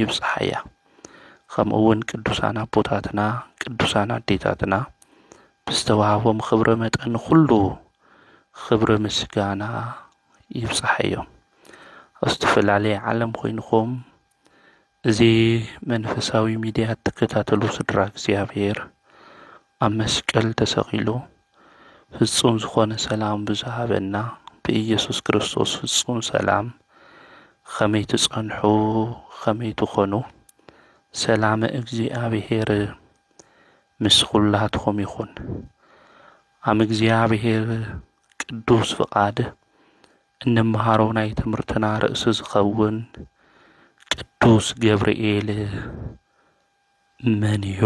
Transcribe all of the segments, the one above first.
ይብጽሓያ ከምኡውን ቅዱሳን ኣቦታትና ቅዱሳን ኣዴታትና ብዝተዋህቦም ኽብሪ መጠን ዅሉ ኽብሪ ምስጋና ይብጽሓዮም ኣብ ዝተፈላለየ ዓለም ኾይንኹም እዚ መንፈሳዊ ሚድያ እትከታተሉ ስድራ እግዚኣብሔር ኣብ መስቀል ተሰቒሉ ፍጹም ዝኾነ ሰላም ብዝሃበና ብኢየሱስ ክርስቶስ ፍጹም ሰላም ኸመይ ትጸንሑ ኸመይ ትኾኑ ሰላመ እግዚኣብሔር ምስ ኹላትኹም ይኹን። ኣም እግዚኣብሔር ቅዱስ ፍቓድ እንመሃሮ ናይ ትምህርትና ርእሲ ዝኸውን ቅዱስ ገብርኤል መን እዩ?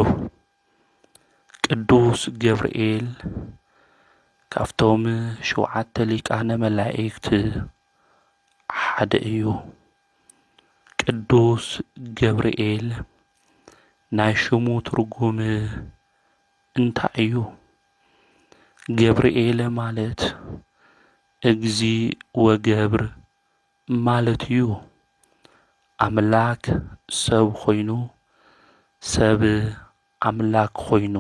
ቅዱስ ገብርኤል ካብቶም ሽውዓተ ሊቃነ መላእክት ሓደ እዩ። ቅዱስ ገብርኤል ናይ ሽሙ ትርጉም እንታይ እዩ? ገብርኤል ማለት እግዚ ወገብር ማለት እዩ ኣምላክ ሰብ ኮይኑ ሰብ ኣምላክ ኮይኑ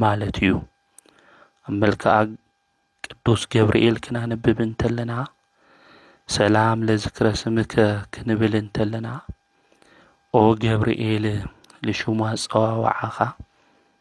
ማለት እዩ ኣብ መልክኣ ቅዱስ ገብርኤል ክናንብብ እንተለና ሰላም ለዝክረ ስምከ ክንብል እንተለና ኦ ገብርኤል ልሹም ኣጸዋውዓኻ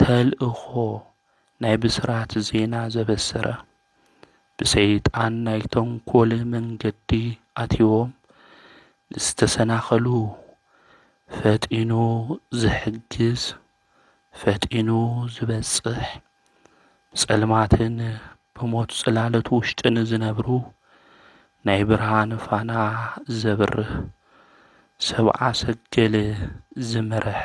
ተልእኾ ናይ ብስራት ዜና ዘበሰረ ብሰይጣን ናይ ተንኮል መንገዲ ኣትዩዎም ንዝተሰናኸሉ ፈጢኑ ዝሕግዝ ፈጢኑ ዝበጽሕ ብጸልማትን ብሞት ጽላለት ውሽጥን ዝነብሩ ናይ ብርሃን ፋና ዘብርህ ሰብኣ ሰገል ዝመረሐ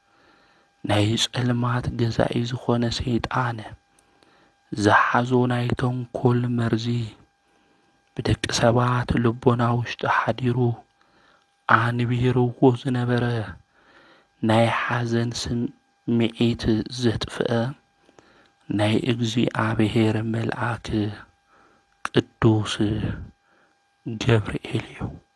ናይ ጸልማት ገዛኢ ዝኾነ ሰይጣን ዝሓዞ ናይ ተንኮል መርዚ ብደቂ ሰባት ልቦና ውሽጢ ሓዲሩ ኣንቢርዎ ዝነበረ ናይ ሓዘን ስምዒት ዘጥፍአ ናይ እግዚኣብሔር መልኣክ ቅዱስ ገብርኤል እዩ።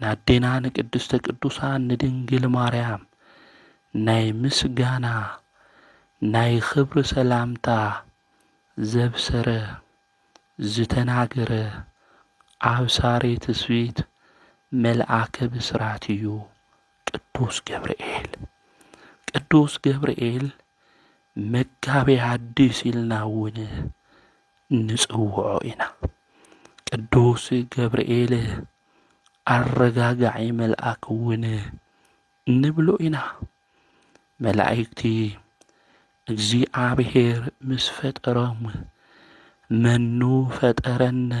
ንኣዴና ንቅድስተ ቅዱሳን ንድንግል ማርያም ናይ ምስጋና ናይ ኽብሪ ሰላምታ ዘብሰረ ዝተናገረ ኣብሳሪ ትስብእት መልኣከ ብስራት እዩ ቅዱስ ገብርኤል። ቅዱስ ገብርኤል መጋቤ ሐዲስ ኢልና እውን ንጽውዖ ኢና። ቅዱስ ገብርኤል ኣረጋጋዒ መልኣክ እውን ንብሎ ኢና። መላእክቲ እግዚኣብሔር ምስ ፈጠሮም መኑ ፈጠረነ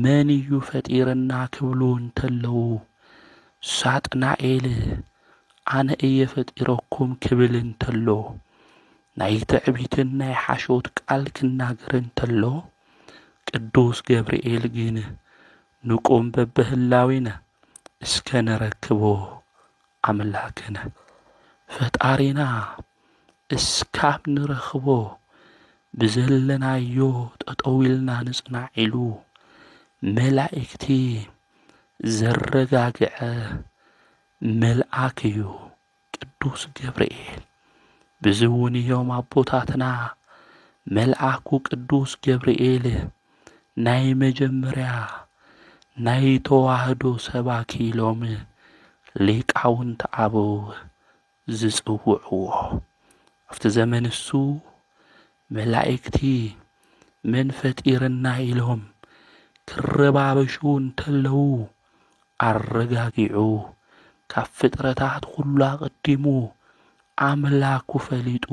መን እዩ ፈጢረና ክብሉ እንተለዉ ሳጥናኤል ኣነ እየ ፈጢረኩም ክብል እንተሎ ናይ ትዕቢትን ናይ ሓሾት ቃል ክናገር እንተሎ ቅዱስ ገብርኤል ግን ንቁም በብህላዊነ እስከ ነረክቦ ኣምላክነ ፈጣሪና እስካብ ንረኽቦ ብዘለናዮ ጠጠዊልና ንጽናዕ ኢሉ መላእክቲ ዘረጋግዐ መልኣክ እዩ። ቅዱስ ገብርኤል ብዝውን እዮም ኣቦታትና መልኣኩ ቅዱስ ገብርኤል ናይ መጀመርያ ናይ ተዋህዶ ሰባኪ ኢሎም ሊቃውንቲ ኣበው ዝጽውዕዎ ኣብቲ ዘመን እሱ መላእክቲ መን ፈጢርና ኢሎም ክረባበሹ እንተለዉ ኣረጋጊዑ ካብ ፍጥረታት ኩሉ ኣቐዲሙ ኣምላኩ ፈሊጡ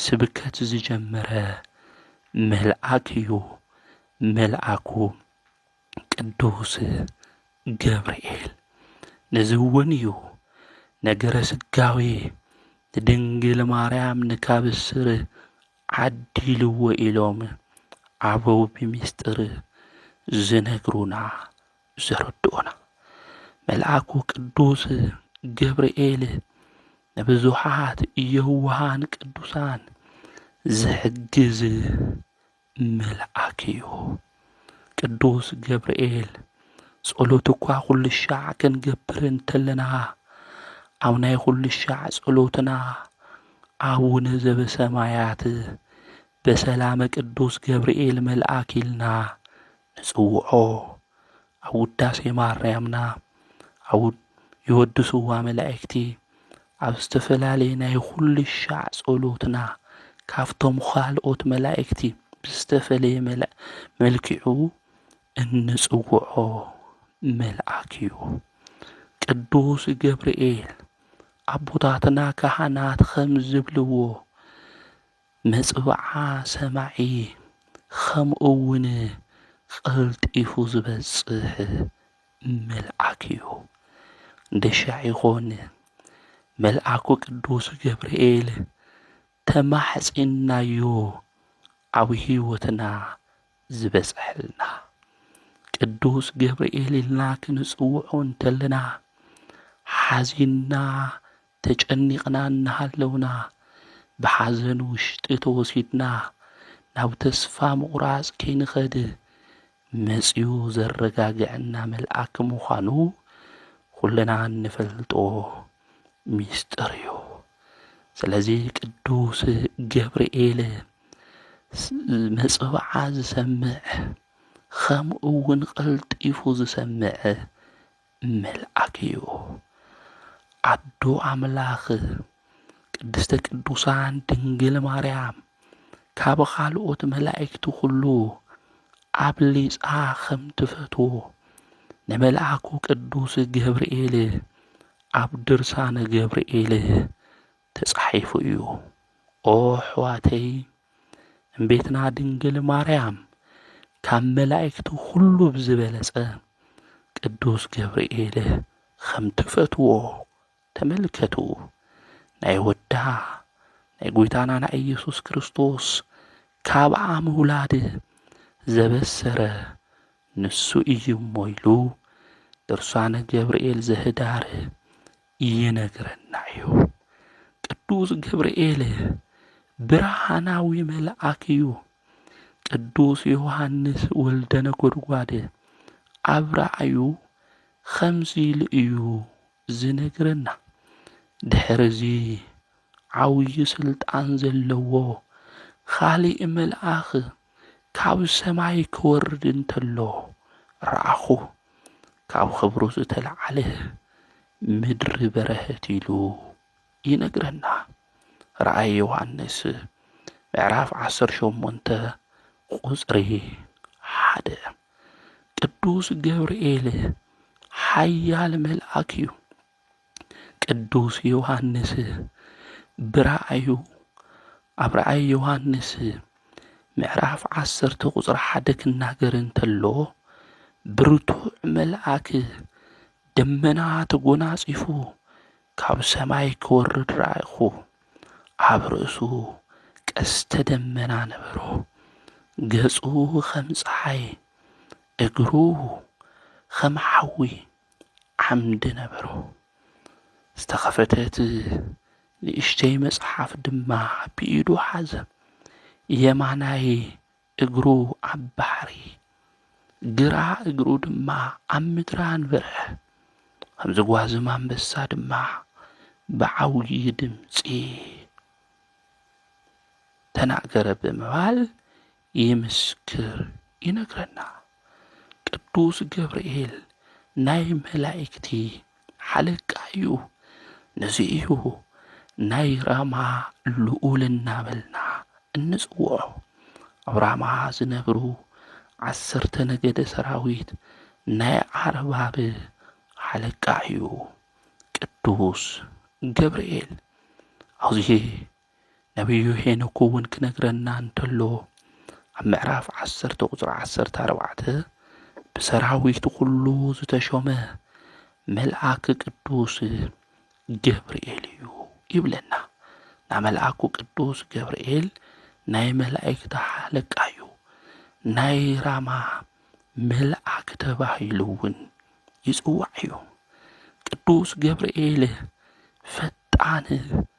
ስብከት ዝጀመረ መልኣክ እዩ መልኣኩ ቅዱስ ገብርኤል ነዚ እውን እዩ ነገረ ስጋዌ ንድንግል ማርያም ንካብስር ዓዲልዎ ኢሎም ኣበው ብሚስጥር ዝነግሩና ዘረድኡና መልኣኩ ቅዱስ ገብርኤል ንብዙሓት የውሃን ቅዱሳን ዝሕግዝ መልኣክ እዩ። ቅዱስ ገብርኤል ጸሎት እኳ ኩሉ ሻዕ ክንገብር እንተለና ኣብ ናይ ኩሉ ሻዕ ጸሎትና ኣቡነ ዘበሰማያት በሰላመ ቅዱስ ገብርኤል መልኣክ ኢልና ንጽውዖ ኣብ ውዳሴ ማርያምና ኣብ የወድስዋ መላእክቲ ኣብ ዝተፈላለየ ናይ ኹሉ ሻዕ ጸሎትና ካብቶም ኻልኦት መላእክቲ ብዝተፈለየ መልኪዑ እንጽውዖ መልኣክ እዩ። ቅዱስ ገብርኤል ኣቦታትና ካህናት ኸም ዝብልዎ መጽብዓ ሰማዒ ኸምኡውን ቐልጢፉ ዝበጽሕ መልኣክ እዩ። ገሻዕ ይኹን መልኣኩ ቅዱስ ገብርኤል ተማሕጺንናዮ ኣብ ሕይወትና ዝበጽሐልና። ቅዱስ ገብርኤል ኢልና ክንጽውዖ እንተለና ሓዚንና ተጨኒቕና እናሃለውና ብሓዘን ውሽጢ ተወሲድና ናብ ተስፋ ምቑራፅ ከይንኸድ መፂኡ ዘረጋገዐና መልኣክ ምዃኑ ኹልና እንፈልጦ ሚስጥር እዩ። ስለዚ ቅዱስ ገብርኤል መፅብዓ ዝሰምዕ ኸምኡ እውን ቐልጢፉ ዝሰምዕ መልኣክ እዩ። ኣዶ ኣምላክ ቅድስተ ቅዱሳን ድንግል ማርያም ካብ ኻልኦት መላእክቲ ኹሉ ኣብሊጻ ኸም ትፈትዎ ንመልኣኩ ቅዱስ ገብርኤል ኣብ ድርሳነ ገብርኤል ተጻሒፉ እዩ ኦ ኣሕዋተይ እምቤትና ድንግል ማርያም ካብ መላእክቲ ኩሉ ብዝበለጸ ቅዱስ ገብርኤል ኸም ትፈትዎ ተመልከቱ ናይ ወዳ ናይ ጎይታና ናይ ኢየሱስ ክርስቶስ ካብኣ ምውላድ ዘበሰረ ንሱ እዩ እሞ ኢሉ ድርሳነ ገብርኤል ዘህዳር ይነግረና እዩ። ቅዱስ ገብርኤል ብርሃናዊ መልኣክ እዩ። ቅዱስ ዮሐንስ ወልደ ነጎድጓድ ኣብ ራእዩ ኸምዚ ኢሉ እዩ ዝነግረና። ድሕርዚ ዓብዪ ስልጣን ዘለዎ ኻሊእ መልኣኽ ካብ ሰማይ ክወርድ እንተሎ ረኣኹ፣ ካብ ኽብሩ ዝተለዓለ ምድሪ በረሀት ኢሉ ይነግረና። ራእይ ዮሐንስ ምዕራፍ ዓሰርተ ሸሞንተ ቁጽሪ ሓደ ቅዱስ ገብርኤል ሓያል መልኣክ እዩ። ቅዱስ ዮሃንስ ብራእዩ ኣብ ራእይ ዮሃንስ ምዕራፍ ዓሰርተ ቁፅሪ ሓደ ክናገር እንተሎ ብርቱዕ መልኣክ ደመና ተጎናጺፉ ካብ ሰማይ ክወርድ ረኣይኹ። ኣብ ርእሱ ቀስተ ደመና ነበሮ። ገጹ ኸም ፀሓይ፣ እግሩ ኸም ሓዊ፣ ዓምዲ ነበሮ። ዝተኸፈተት ንእሽተይ መጽሓፍ ድማ ብኢዱ ሓዘ። የማናይ እግሩ ኣብ ባሕሪ፣ ግራ እግሩ ድማ ኣብ ምድሪ ኣንበረ። ከም ዝጓዝም ኣንበሳ ድማ ብዓብዪ ድምፂ ተናገረ ብምባል ይምስክር ይነግረና ቅዱስ ገብርኤል ናይ መላእክቲ ሓለቃ እዩ። ነዚ እዩ ናይ ራማ ልኡል እናበልና እንጽውዖ። ኣብ ራማ ዝነብሩ ዓሰርተ ነገደ ሰራዊት ናይ ዓርባብ ሓለቃ እዩ ቅዱስ ገብርኤል። ኣብዚ ነብዩ ሄኖክ እውን ክነግረና እንተሎ ኣብ ምዕራፍ ዓሰርተ ቁፅሪ ዓሰርተ ኣርባዕተ ብሰራዊት ኩሉ ዝተሾመ መልኣክ ቅዱስ ገብርኤል እዩ ይብለና። ና መልኣኩ ቅዱስ ገብርኤል ናይ መላእክቲ ሓለቃ እዩ። ናይ ራማ መልኣክ ተባሂሉ እውን ይፅዋዕ እዩ። ቅዱስ ገብርኤል ፈጣን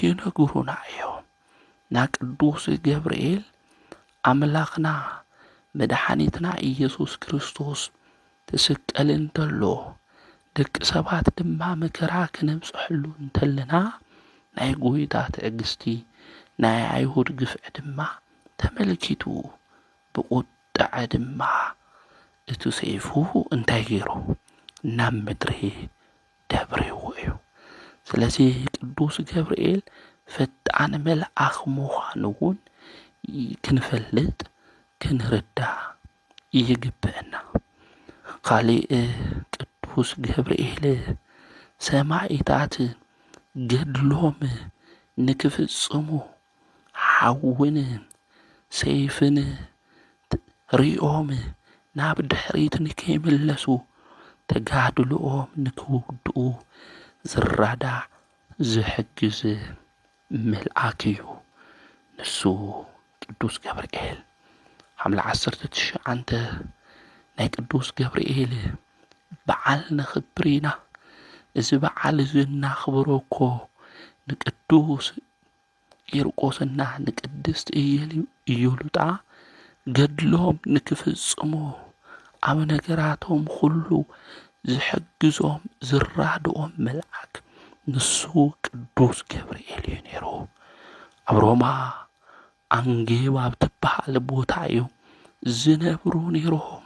ይነግሩና እዮም። ና ቅዱስ ገብርኤል ኣምላኽና መድሓኒትና ኢየሱስ ክርስቶስ ትስቀል እንተሎ ደቂ ሰባት ድማ መከራ ክነብፀሐሉ እንተለና ናይ ጎይታ ትዕግስቲ ናይ ኣይሁድ ግፍዒ ድማ ተመልኪቱ ብቑጥዐ ድማ እቲ ሰይፉ እንታይ ገይሩ ናብ ምድሪ ደብርዎ እዩ። ስለዚ ቅዱስ ገብርኤል ፈጣን መልኣኽ ምዃኑ እውን ክንፈልጥ ክንርዳእ ይግበአና። ኻሊእ ቅዱስ ገብርኤል ሰማኢታት ገድሎም ንክፍፅሙ ሓውን ሰይፍን ሪኦም ናብ ድሕሪት ንከይምለሱ ተጋድልኦም ንክውድኡ ዝራዳዕ ዝሕግዝ መልኣክ እዩ። ንሱ ቅዱስ ገብርኤል ሓምለ ዓሰርተ ትሽዓተ ናይ ቅዱስ ገብርኤል በዓል ነኽብር ኢና። እዚ በዓል እዚ እናኽብሮ እኮ ንቅዱስ ቂርቆስና ንቅድስት ኢዮሉጣ ገድሎም ንክፍጽሙ ኣብ ነገራቶም ኹሉ ዝሕግዞም ዝራድኦም መልኣክ ንሱ ቅዱስ ገብርኤል እዩ ነይሩ። ኣብ ሮማ ኣንጌብ ኣብ ትበሃል ቦታ እዩ ዝነብሩ ነይሮም።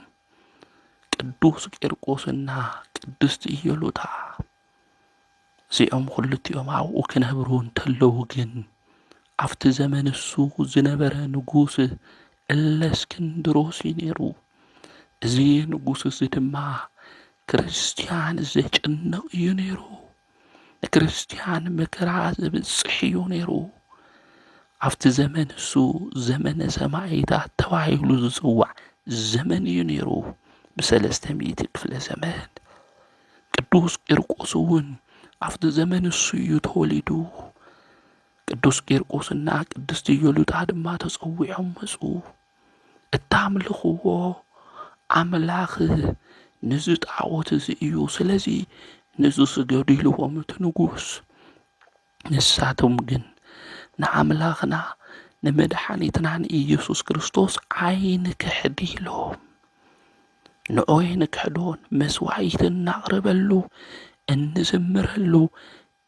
ቅዱስ ቂርቆስና ቅድስት ኢዮሉጣ እዚኦም ዅሉቲኦም ኣብኡ ኽነብሩ እንተለዉ ግን፣ ኣብቲ ዘመን እሱ ዝነበረ ንጉስ እለስክንድሮስ እዩ ነይሩ። እዚ ንጉስ እዚ ድማ ክርስትያን ዜጭንቕ እዩ ነይሩ። ንክርስትያን መከራ ዘብጽሕ እዩ ነይሩ። ኣብቲ ዘመን እሱ ዘመነ ሰማይታት ተባሂሉ ዝጽዋዕ ዘመን እዩ ነይሩ ብሰለስተ ሚእቲ ክፍለ ዘመን። ቅዱስ ቂርቆስ እውን ኣብቲ ዘመን እሱ እዩ ተወሊዱ። ቅዱስ ቂርቆስና ቅድስቲ ዮሉጣ ድማ ተጸዊዖም መጹ። እታምልኽዎ ኣምላኽ ንዚ ጣዖት እዚ እዩ፣ ስለዚ ንዚ ስገዱ ኢልዎም እቲ ንጉስ። ንሳቶም ግን ንኣምላኽና ንመድሓኒትናን ኢየሱስ ክርስቶስ ኣይንክሕድ ኢሎም ንኦ የንክሕዶን መስዋዕት እናቕርበሉ እንዝምረሉ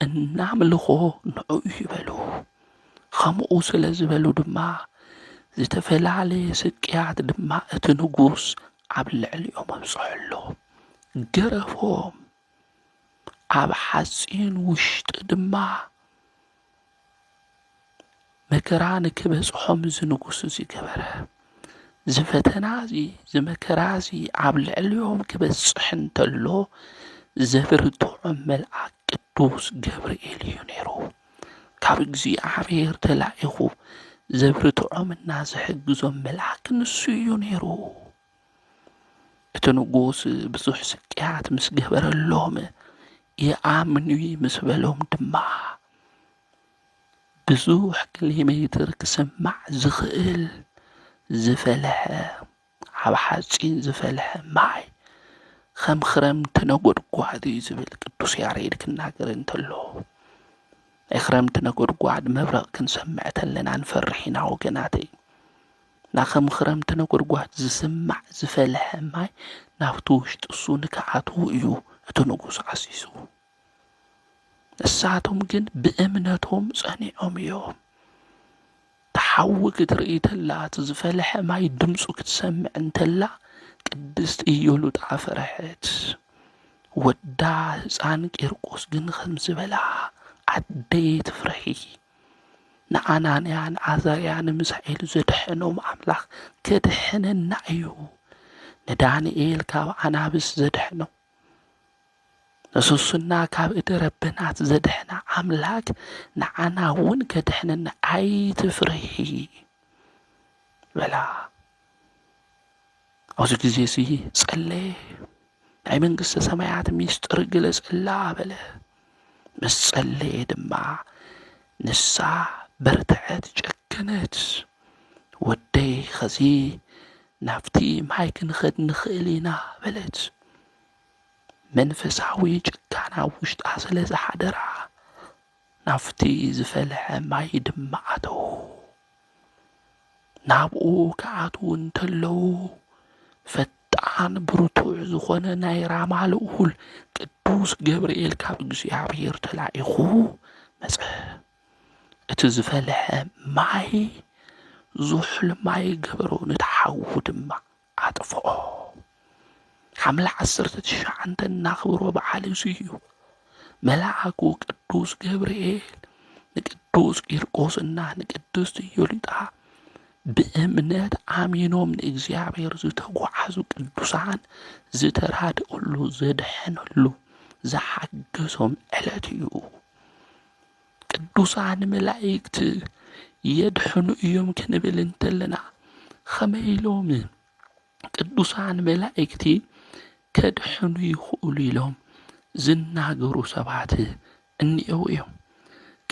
እናምልኾ ንዕኡ ይበሉ ኸምኡ ስለ ዝበሉ ድማ ዝተፈላለየ ስቅያት ድማ እቲ ንጉስ ኣብ ልዕሊኦም ኣብፅሐሎም ገረፎም ኣብ ሓጺን ውሽጢ ድማ መከራ ንክበጽሖም እዚ ንጉስ እዚ ገበረ። እዚ ፈተና እዚ እዚ መከራ እዚ ኣብ ልዕሊኦም ክበጽሕ እንተሎ ዘብርትዖም መልኣክ ቅዱስ ገብርኤል እዩ ነይሩ። ካብ እግዚኣብሔር ተላኢኹ ዘብርትዖም እና ዝሕግዞም መልኣክ ንሱ እዩ ነይሩ። እቲ ንጉስ ብዙሕ ስቅያት ምስ ገበረሎም ይኣምኑኒ ምስ በሎም ድማ ብዙሕ ኪሎ ሜትር ክስማዕ ዝኽእል ዝፈልሐ ኣብ ሓፂን ዝፈልሐ ማይ ከም ኽረምቲ ነጎድጓድ እዩ ዝብል ቅዱስ ያሬድ ክናገር እንተሎ ናይ ኽረምቲ ነጎድጓድ መብረቅ ክንሰምዕ ከለና ንፈርሕ ኢና ወገናተይ። ግና ከም ኽረምቲ ነጐድጓድ ዚስማዕ ዝፈልሐ ማይ ናብቲ ውሽጢ ሱኒ ኪኣትዉ እዩ እቲ ንጉሥ ዓዚዙ። ንሳቶም ግን ብእምነቶም ጸኒዖም እዮም። እቲ ሓዊ ክትርኢ ተላ እቲ ዝፈልሐ ማይ ድምፁ ክትሰምዕ እንተላ ቅድስት ኢዮሉጣ ፈረሐት። ወዳ ህፃን ቂርቆስ ግን ኸምዚ በላ ኣደይ ኣይትፍረሒ ንኣናንያ ንዓዛርያ ንሚሳኤል ዘድሐኖም ኣምላኽ ከድሕነና እዩ። ንዳንኤል ካብ ኣናብስ ዘድሐኖም ንሱሱና ካብ እደ ረበናት ዘድሐና ኣምላክ ንዓና እውን ከድሕነና ኣይትፍርሂ በላ። ኣብዚ ግዜ እዚ ጸለየ። ናይ መንግስተ ሰማያት ሚስጥር ግለጸላ በለ። ምስ ጸለየ ድማ ንሳ በርትዐት፣ ጨከነት። ወደይ ኸዚ ናብቲ ማይ ክንኸድ ንኽእል ኢና በለት መንፈሳዊ ጭካና ውሽጣ ስለ ዝሓደራ ናብቲ ዝፈልሐ ማይ ድማ ኣተዉ። ናብኡ ክኣትዉ እንተለዉ ፈጣን ብርቱዕ ዝኾነ ናይ ራማ ልኡል ቅዱስ ገብርኤል ካብ እግዚኣብሔር ተላኢኹ መጸ። እቲ ዝፈልሐ ማይ ዙሑል ማይ ገበሮ፣ ነቲ ሓዊ ድማ። ኣጥፍኦ። ሓምለ ዓሰርተ ትሽዓተ እናኽብሮ በዓል እዚ እዩ። መልኣኩ ቅዱስ ገብርኤል ንቅዱስ ቂርቆስና ንቅድስት ዮሊጣ ብእምነት ኣሚኖም ንእግዚኣብሔር ዝተጓዓዙ ቅዱሳን ዝተራድእሉ ዘድሐነሉ ዝሓገሶም ዕለት እዩ። ቅዱሳን መላእክት የድሕኑ እዮም ክንብል እንተለና ኸመይ ኢሎም ቅዱሳን መላእክቲ ከድሕኑ ይኽእሉ ኢሎም ዝናገሩ ሰባት እኒአው እዮም።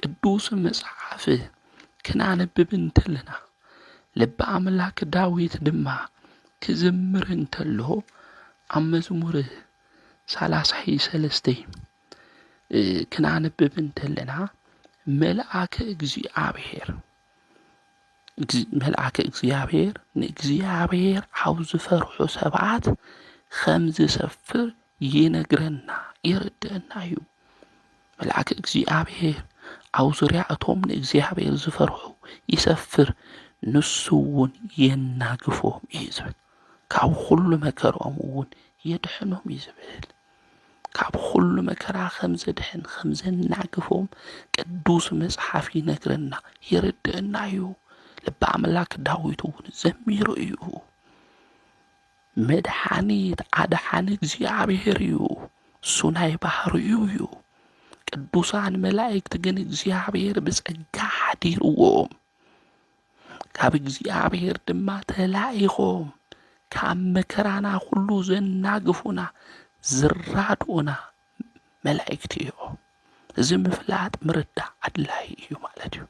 ቅዱስ መጽሓፍ ክናነብብ እንተለና ልቢ ኣምላክ ዳዊት ድማ ክዝምር እንተሎ ኣብ መዝሙር ሳላሳይ ሰለስተይ ክናንብብ እንተለና መልኣከ እግዚኣብሔር መልኣከ እግዚኣብሔር ንእግዚኣብሔር ኣብ ዝፈርሑ ሰባት ኸም ዝሰፍር ይነግረና የረድአና እዩ። መልኣከ እግዚኣብሔር ኣብ ዙርያ እቶም ንእግዚኣብሔር ዝፈርሑ ይሰፍር ንሱ እውን የናግፎም እዩ ዝብል ካብ ኹሉ መከርኦም እውን የድሕኖም እዩ ዝብል። ካብ ዅሉ መከራ ኸም ዜድሕን ኸም ዜናግፎም ቅዱስ መጽሓፍ ይነግረና የረድእና እዩ ልቢ ኣምላክ ዳዊት እውን ዘሚሩ እዩ መድሓኒት ኣድሓኒ እግዚኣብሔር እዩ እሱ ናይ ባህርዩ እዩ ቅዱሳን መላእክት ግን እግዚኣብሔር ብጸጋ ሓዲርዎም ካብ እግዚኣብሔር ድማ ተላኢኾም ካብ መከራና ዅሉ ዘናግፉና ዝራድኡና መላእክቲ እዮም። እዚ ምፍላጥ ምርዳእ ኣድላዪ እዩ ማለት እዩ።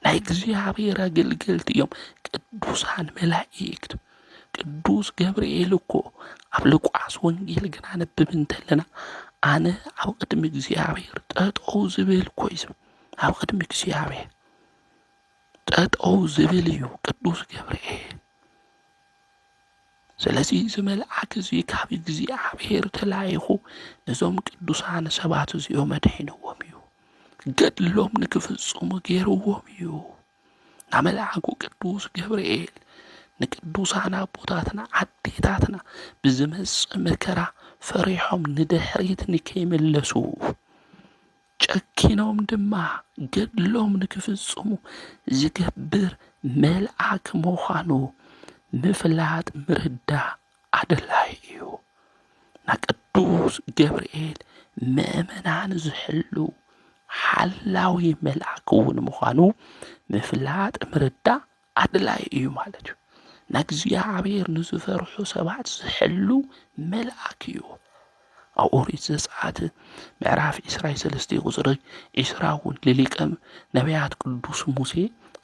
ናይ እግዚኣብሔር ኣገልገልቲ እዮም ቅዱሳን መላእክት። ቅዱስ ገብርኤል እኮ ኣብ ሉቃስ ወንጌል ግና ነብብ እንተለና ኣነ ኣብ ቅድሚ እግዚኣብሔር ጠጠው ዝብል እኮ እዩ ዝብል ኣብ ቅድሚ እግዚኣብሔር ጠጠው ዝብል እዩ ቅዱስ ገብርኤል። ስለዚ እዚ መልኣክ እዚ ካብ እግዚኣብሔር ተላኢኹ ነዞም ቅዱሳን ሰባት እዚኦም ኣድሒንዎም እዩ። ገድሎም ንክፍፅሙ ገይርዎም እዩ። ናብ መልኣኩ ቅዱስ ገብርኤል ንቅዱሳን ኣቦታትና ኣዴታትና ብዝመፅእ መከራ ፈሪሖም ንድሕሪት ንከይምለሱ ጨኪኖም ድማ ገድሎም ንክፍጽሙ ዝገብር መልኣክ ምዃኑ ምፍላጥ ምርዳእ ኣደላይ እዩ። ና ቅዱስ ገብርኤል ምእመናን ዝሕሉ ሓላዊ መልኣክ እውን ምዃኑ ምፍላጥ ምርዳእ ኣድላዪ እዩ ማለት እዩ። ንእግዚኣብሔር ንዝፈርሑ ሰባት ዝሕሉ መልኣክ እዩ። ኣብ ኦሪት ዘጸአት ምዕራፍ ዕስራ ሰለስተ ቁጽሪ ዕስራ እውን ልሊቀ ነቢያት ቅዱስ ሙሴ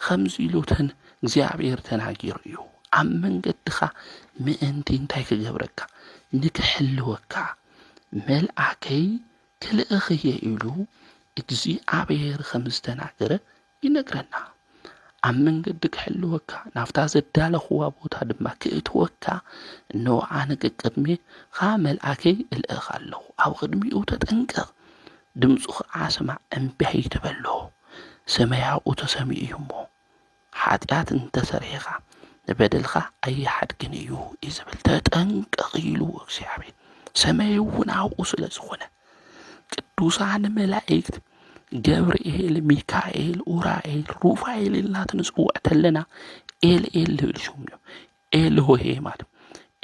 ከምዚ ኢሉ ተን እግዚኣብሔር ተናጊሩ እዩ ኣብ መንገድኻ ምእንቲ እንታይ ክገብረካ ንክሕልወካ መልኣከይ ክልእኽ እየ ኢሉ እግዚኣብሔር ከም ዝተናገረ ይነግረና። ኣብ መንገዲ ክሕልወካ፣ ናብታ ዘዳለኹዋ ቦታ ድማ ክእትወካ፣ እነሆ ኣነ ቀቅድሜኻ መልኣከይ እልእኽ ኣለኹ፣ ኣብ ቕድሚኡ ተጠንቀቕ፣ ድምፁ ኸዓ ስማዕ፣ እምቢ ኣይትበሎ፣ ስመይ ኣብኡ ተሰሚዑ እዩ እሞ፣ ሓጢኣት እንተ ሰርሒኻ፣ ንበደልኻ ኣይሓድግን እዩ እዩ ዝብል፣ ተጠንቀቕ ኢልዎ እግዚኣብሔር፣ ሰመይ እውን ኣብኡ ስለ ዝኾነ። ቅዱሳን መላእክት ገብርኤል ሚካኤል ኡራኤል ሩፋኤል ኢልና ትንፅውዕ ተለና ኤል ኤል ዝብል ሽም እዮም ኤል ሆሄ ማለት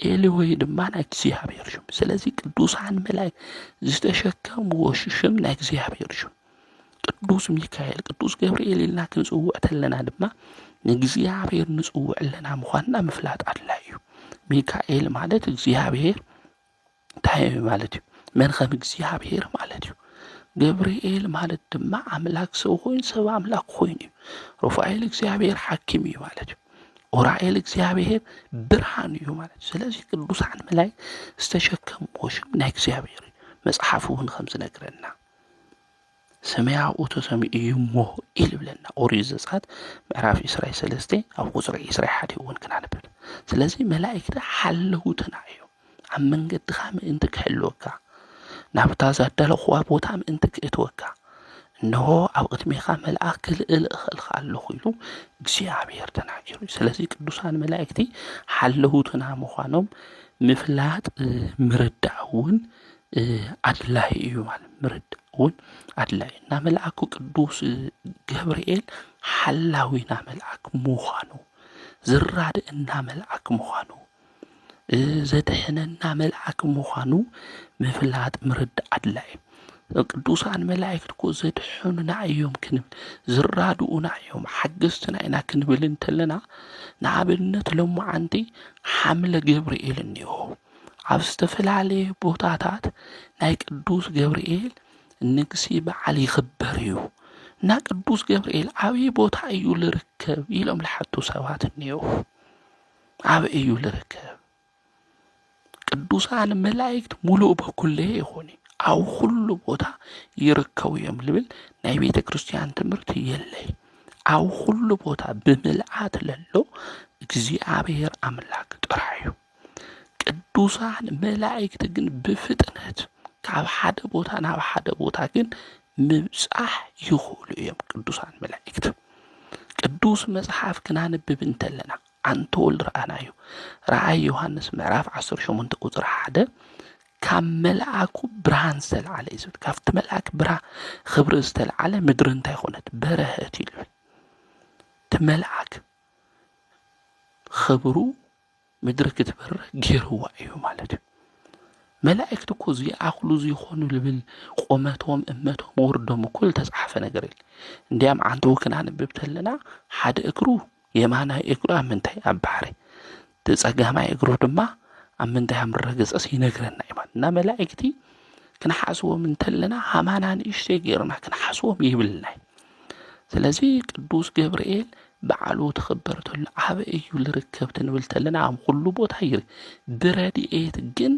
ኤል ሆሄ ድማ ናይ እግዚኣብሔር ሽም ስለዚ ቅዱሳን መላእክት ዝተሸከምዎ ሽም ናይ እግዚኣብሔር ሽም ቅዱስ ሚካኤል ቅዱስ ገብርኤል ኢልና ክንፅውዕ ተለና ድማ ንእግዚኣብሔር ንፅውዕ ኣለና ምዃንና ምፍላጥ ኣድላይ እዩ ሚካኤል ማለት እግዚኣብሔር እንታይ እዩ ማለት እዩ? መን ከም እግዚኣብሔር ማለት እዩ። ገብርኤል ማለት ድማ ኣምላክ ሰብ ኮይኑ ሰብ ኣምላክ ኮይኑ እዩ። ሩፋኤል እግዚኣብሔር ሓኪም እዩ ማለት እዩ። ኡራኤል እግዚኣብሔር ብርሃን እዩ ማለት እዩ። ስለዚ ቅዱሳን መላእክት ዝተሸከምዎ ሽም ናይ እግዚኣብሔር እዩ። መጽሓፍ እውን ከም ዝነግረና ሰማይ ኣብኡ ተሰሚዑ እዩ እሞ ኢሉ ይብለና ኦሪት ዘጸአት ምዕራፍ ዕስራይ ሰለስተ ኣብ ቁጽሪ ዕስራይ ሓደ እውን ክናንብብ ስለዚ መላእክቲ ሓለውትና እዮም ኣብ መንገድኻ ምእንቲ ክሕልወካ ናብታ ዛዳለኹዋ ቦታ ምእንቲ ክእትወካ እንሆ ኣብ ቅድሜኻ መልኣኽ ክልእል እኽእልኻ ኣለኹ ኢሉ እግዚኣብሔር ተናጊሩ ስለዚ ቅዱሳን መላእክቲ ሓለውትና ምዃኖም ምፍላጥ ምርዳእ እውን ኣድላዩ እዩ ማለት እዩ ምርዳእ እውን ኣድላዩ እዩ። ናመልኣኩ ቅዱስ ገብርኤል ሓላዊና መልኣክ ምዃኑ ዝራድእና መልኣክ ምዃኑ ዘድሕነና መልኣክ ምዃኑ ምፍላጥ ምርዳእ ኣድላይ እዩ። ቅዱሳን መላእክት እኮ ዘድሕኑና እዮም ክንብል ዝራድኡና እዮም ሓገዝትና ኢና ክንብል እንተለና ንኣብነት ሎምዓንቲ ሓምለ ገብርኤል እኒኦ። ኣብ ዝተፈላለየ ቦታታት ናይ ቅዱስ ገብርኤል ንግሲ በዓል ይኽበር እዩ። እና ቅዱስ ገብርኤል ኣበይ ቦታ እዩ ልርከብ ኢሎም ልሓቱ ሰባት እኔዉ። ኣበይ እዩ ልርከብ? ቅዱሳን መላእክት ሙሉእ በኩለየ ይኾኑ ኣብ ኩሉ ቦታ ይርከቡ እዮም ልብል ናይ ቤተ ክርስቲያን ትምህርቲ የለይ። ኣብ ኩሉ ቦታ ብምልኣት ለሎ እግዚኣብሔር ኣምላክ ጥራሕ እዩ። ቅዱሳን መላእክት ግን ብፍጥነት ካብ ሓደ ቦታ ናብ ሓደ ቦታ ግን ምብጻሕ ይኽእሉ እዮም ቅዱሳን መላእክት። ቅዱስ መጽሓፍ ክናንብብ እንተለና ኣንተ ወልድ ረኣናዩ ረኣይ ዮሃንስ ምዕራፍ 18 ቁፅሪ ሓደ ካብ መልኣኩ ብርሃን ዝተለዓለ እዩ ዝብል ካብቲ መልኣክ ብርሃ ክብሪ ዝተለዓለ ምድሪ እንታይ ኮነት በረሀት ይብል እቲ መልኣክ ክብሩ ምድሪ ክትበር ጌርዋ እዩ ማለት እዩ መላእክት እኮ ዚኣኽሉ ዚኾኑ ልብል ቆመቶም እመቶም ወርዶም እኮ ዝተጻሓፈ ነገር የለ እንዲያም ዓንተው ክናንብብ ተለና ሓደ እግሩ የማናይ እግሩ ኣብ ምንታይ ኣብ ባሕሪ ተጸጋማይ እግሩ ድማ ኣብ ምንታይ ኣብ ምረገጸስ ይነግረና እዩ ማለት እና መላእክቲ ክንሓስቦም እንተለና ሃማና ንእሽተይ ገይርና ክንሓስቦም ይብልና እዩ ስለዚ ቅዱስ ገብርኤል በዓሉ ትኽበር ተሎ ዓበ እዩ ልርከብ ትንብል ተለና ኣብ ዅሉ ቦታ እዩ ብረድኤት ግን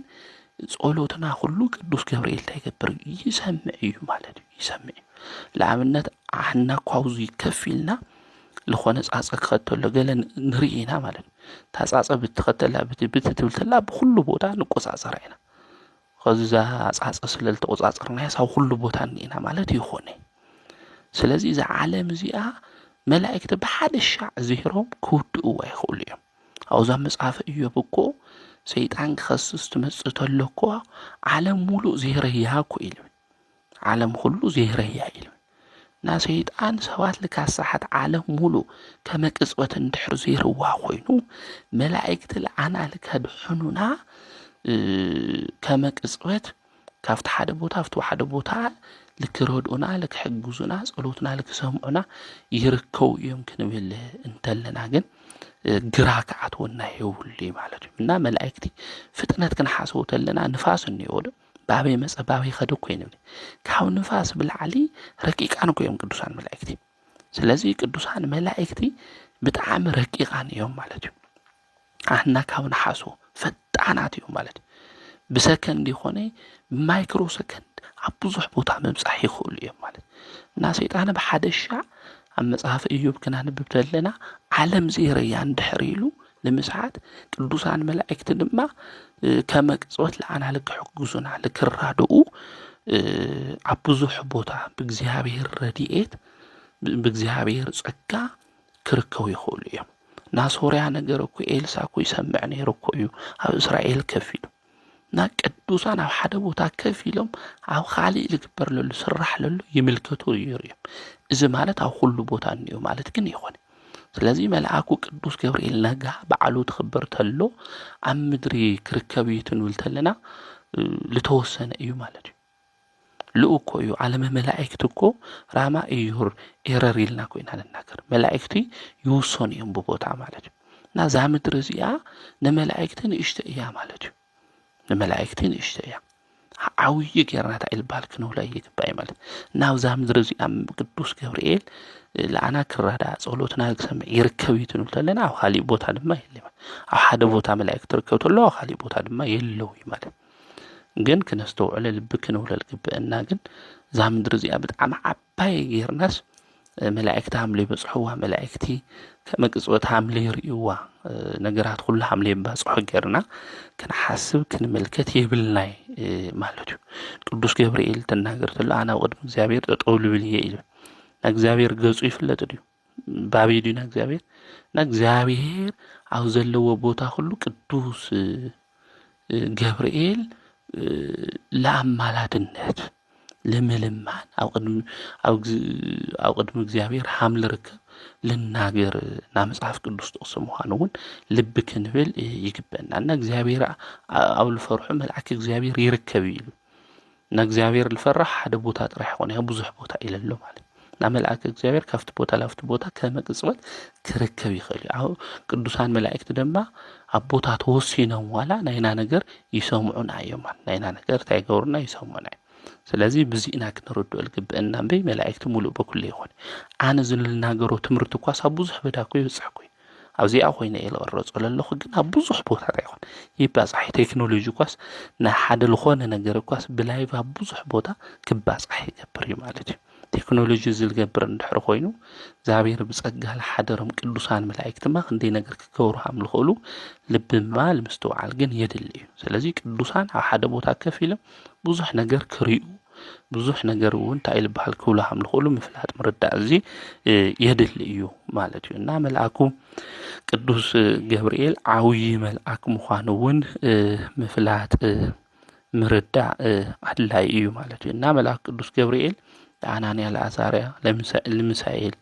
ጸሎትና ዅሉ ቅዱስ ገብርኤል እንታይ ይገብር እዩ ይሰምዕ እዩ ማለት እዩ ይሰምዕ እዩ ንኣብነት ኣሕና እኳ ኣብዚ ከፍ ኢልና ዝኾነ ጻጸ ክኸድ ተሎ ገለ ንርኢ ኢና ማለት እዩ እታ ጻጸ ብትኸተላ ብቲ ብቲ ትብል ተላ ብዅሉ ቦታ ንቈጻጸራ ኢና ኸዚ እዛ ኣጻጸ ስለ ልተቖጻጸርናያስ ኣብ ኹሉ ቦታ እኒኤና ማለት ኣይኮነይ። ስለዚ እዛ ዓለም እዚኣ መላእክቲ ብሓደ ሻዕ ዜሮም ክውድእዋ ይኽእሉ እዮም። ኣብዛ መጽሓፈ እዮብ እኮ ሰይጣን ክኸስስ ትመጽእ ተሎ እኳ ዓለም ሙሉእ ዜረያ እኮ ኢሉ ዓለም ኹሉ ዘይረያ ኢሉ ናሰይጣን ሰባት ልካሳሓት ዓለም ሙሉ ከመቅጽበት እንድሕር ዘይርዋ ኮይኑ መላእክቲ ልዓና ልከድሕኑና ከመቅጽበት ካብቲ ሓደ ቦታ ኣብቲ ሓደ ቦታ ልክረድኡና ልክሕግዙና ጸሎትና ልክሰምዑና ይርከቡ እዮም ክንብል እንተለና ግን ግራ ክዓትወና የብሉ ማለት እዩ እና መላእክቲ ፍጥነት ክንሓስቡ ተለና ንፋስ እኒኦ ዶ ባበይ መጸ ባበይ ኸደ እኮ ይብል ካብ ንፋስ ብላዕሊ ረቂቃን እኮ እዮም ቅዱሳን መላእክቲ ስለዚ ቅዱሳን መላእክቲ ብጣዕሚ ረቂቃን እዮም ማለት እዩ ኣና ካብ ንሓሶ ፈጣናት እዮም ማለት እዩ ብሰከንድ ይኾነ ብማይክሮ ሰከንድ ኣብ ብዙሕ ቦታ ምብፃሕ ይኽእሉ እዮም ማለት እና ሰይጣን ብሓደ ሻዕ ኣብ መጽሓፍ እዩብ ክናንብብ ዘለና ዓለም ዘይረያ እንድሕር ኢሉ ንምስሓት ቅዱሳን መላእክት ድማ ከመ ቅጽበት ለኣናል ክሕግዙና ልክራድኡ ኣብ ብዙሕ ቦታ ብእግዚኣብሔር ረድኤት ብእግዚኣብሔር ጸጋ ክርከቡ ይኽእሉ እዮም። ናሶርያ ነገር እኮ ኤልሳ እኮ ይሰምዕ ነይሩ እኮ እዩ ኣብ እስራኤል ከፊሉ እና ቅዱሳን ኣብ ሓደ ቦታ ከፍ ኢሎም ኣብ ኻሊእ ዝግበር ለሉ ስራሕ ለሉ ይምልከቱ ይሩ እዮም እዚ ማለት ኣብ ኹሉ ቦታ እኒኦ ማለት ግን ይኾነ ስለዚ መልኣኩ ቅዱስ ገብርኤል ነጋ በዓሉ ትኽብር ተሎ ኣብ ምድሪ ክርከብ እዩ ትንብል ተለና ዝተወሰነ እዩ ማለት እዩ ልኡክ እኮ እዩ ዓለመ መላእክት እኮ ራማ እዩር ኤረር ኢልና እኮ ኢና ንናገር መላእክቲ ይውሰኑ እዮም ብቦታ ማለት እዩ እና እዛ ምድሪ እዚኣ ንመላእክቲ ንእሽተ እያ ማለት እዩ ንመላእክቲ ንእሽተ እያ ዓብዪ ጌርና እንታይ ልባል ክንብሎ ይግባእ እዩ ማለት ናብዛ ምድሪ እዚኣ ቅዱስ ገብርኤል ለኣና ክራዳ ጸሎትና ክሰምዕ ይርከብ እዩ ትንብል ኣለና ኣብ ካሊእ ቦታ ድማ የለ ኣብ ሓደ ቦታ መላእክት ትርከብ ተሎ ኣብ ካሊእ ቦታ ድማ የለው እዩ ማለት ግን ክነስተውዕለ ልቢ ክንብሎ ዝግብእና ግን እዛ ምድሪ እዚኣ ብጣዕሚ ዓባይ ጌርናስ መላእክቲ ሃምለ ይበፅሕዋ መላእክቲ ከመቅፅወት ሃምለ ይርእይዋ ነገራት ኩሉ ሃምለ ይባፅሖ ጌርና ክንሓስብ ክንምልከት የብልናይ ማለት እዩ ቅዱስ ገብርኤል ተናገር ተሎ ኣነ ኣብ ቅድሚ እግዚኣብሔር ጠጠው ልብል እየ ኢሉ እግዚኣብሔር ገፁ ይፍለጥ ድዩ ባብዩ ድዩ ናብ እግዚኣብሔር እና እግዚኣብሔር ኣብ ዘለዎ ቦታ ሁሉ ቅዱስ ገብርኤል ለኣማላድነት ለምልማን ኣብ ቅድሚ እግዚኣብሔር ሃም ልርከብ ልናገር ና መጽሓፍ ቅዱስ ጥቕሲ ምዃኑ እውን ልቢ ክንብል ይግበና እና እግዚኣብሔር ኣብ ልፈርሑ መልኣክ እግዚኣብሔር ይርከብ ኢሉ ንእግዚኣብሔር ልፈራሕ ሓደ ቦታ ጥራሕ ይኾነ ያ ብዙሕ ቦታ ኢለሎ ማለት ናብ መልኣከ እግዚኣብሔር ካብቲ ቦታ ላብቲ ቦታ ከመቅጽበት ክርከብ ይኽእል እዩ ቅዱሳን መላእክቲ ድማ ኣብ ቦታ ተወሲኖም ዋላ ናይና ነገር ይሰምዑና እዮም ናይና ነገር እንታይ ይገብሩና ይሰምዑና እዮም ስለዚ ብዚእና ክንርድኦ ልግብአና እምበይ መላእክቲ ሙሉእ በኩሉ ይኾነ ኣነ ዝልናገሮ ትምህርቲ እኳ ሳብ ብዙሕ በዳ እኮ ይበፅሕ እኮ እዩ ኣብዚኣ ኮይነ እየ ዝቐረፆ ዘለኹ ግን ኣብ ብዙሕ ቦታታ ይኹን ይባፃሕ እዩ ቴክኖሎጂ እኳስ ናይ ሓደ ዝኾነ ነገር እኳስ ብላይቭ ኣብ ብዙሕ ቦታ ክባፃሕ ይገብር እዩ ማለት እዩ ቴክኖሎጂ እዚ ዝገብር እንድሕር ኮይኑ እግዚኣብሔር ብፀጋ ዝሓደሮም ቅዱሳን መላእክትማ ክንደይ ነገር ክገብሩ ከም ዝኽእሉ ልቢ ምባል ምስትውዓል ግን የድሊ እዩ ስለዚ ቅዱሳን ኣብ ሓደ ቦታ ከፍ ኢሎም ብዙሕ ነገር ክሪኡ ብዙሕ ነገር እውን እንታይ ልበሃል ክብሉ ሃም ልኽእሉ ምፍላጥ ምርዳእ እዙ የድሊ እዩ ማለት እዩ እና መልኣኩ ቅዱስ ገብርኤል ዓውዪ መልኣክ ምዃኑ እውን ምፍላጥ ምርዳእ ኣድላይ እዩ ማለት እዩ እና መልኣክ ቅዱስ ገብርኤል ንኣናንያ ለኣዛርያ ልምሳኤል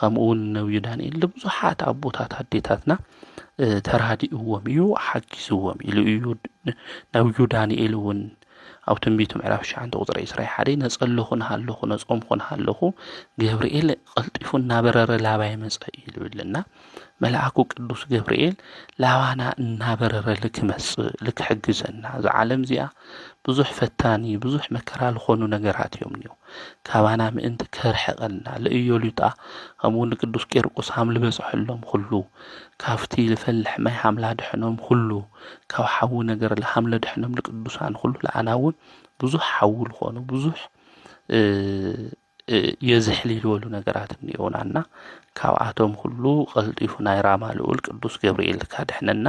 ኸምኡውን ነብዩ ዳንኤል ልብዙሓት ኣቦታት ኣዴታትና ተራዲእዎም እዩ ሓጊዝዎም ኢሉ እዩ ነብዩ ዳንኤል እውን ኣብ ትንቢት ምዕራፍ ትሽዓተ ቁፅሪ ዕስራ ሓደ ነፀለኹ ንሃለኹ ነፆምኹ ንሃለኹ ገብርኤል ቐልጢፉ እናበረረ ላባይ መፀ እዩ ዝብልና መልኣኩ ቅዱስ ገብርኤል ላባና እናበረረ ልክመፅእ ልክሕግዘና እዛ ዓለም እዚኣ ብዙሕ ፈታኒ ብዙሕ መከራ ዝኾኑ ነገራት እዮም እኒኦ ካባና ምእንቲ ከርሕቐልና ልእዮሉጣ ከምኡውን ንቅዱስ ቄርቆስ ሃም ልበፅሐሎም ኩሉ ካብቲ ልፈልሕ ማይ ሃምላ ድሕኖም ኹሉ ካብ ሓዊ ነገር ለሃምለ ድሕኖም ልቅዱሳን ኹሉ ለኣናውን ብዙሕ ሓዊ ልኾኑ ብዙሕ የዝሕል ይልበሉ ነገራት እኒኦናና ካብኣቶም ኹሉ ቐልጢፉ ናይ ራማ ልኡል ቅዱስ ገብርኤል ካድሕነና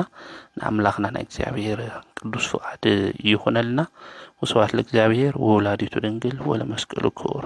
ንኣምላኽና ናይ እግዚኣብሔር ቅዱስ ፍቓድ ይኹነልና። ወስብሐት ለእግዚኣብሔር ወወላዲቱ ድንግል ወለመስቀሉ ክቡር።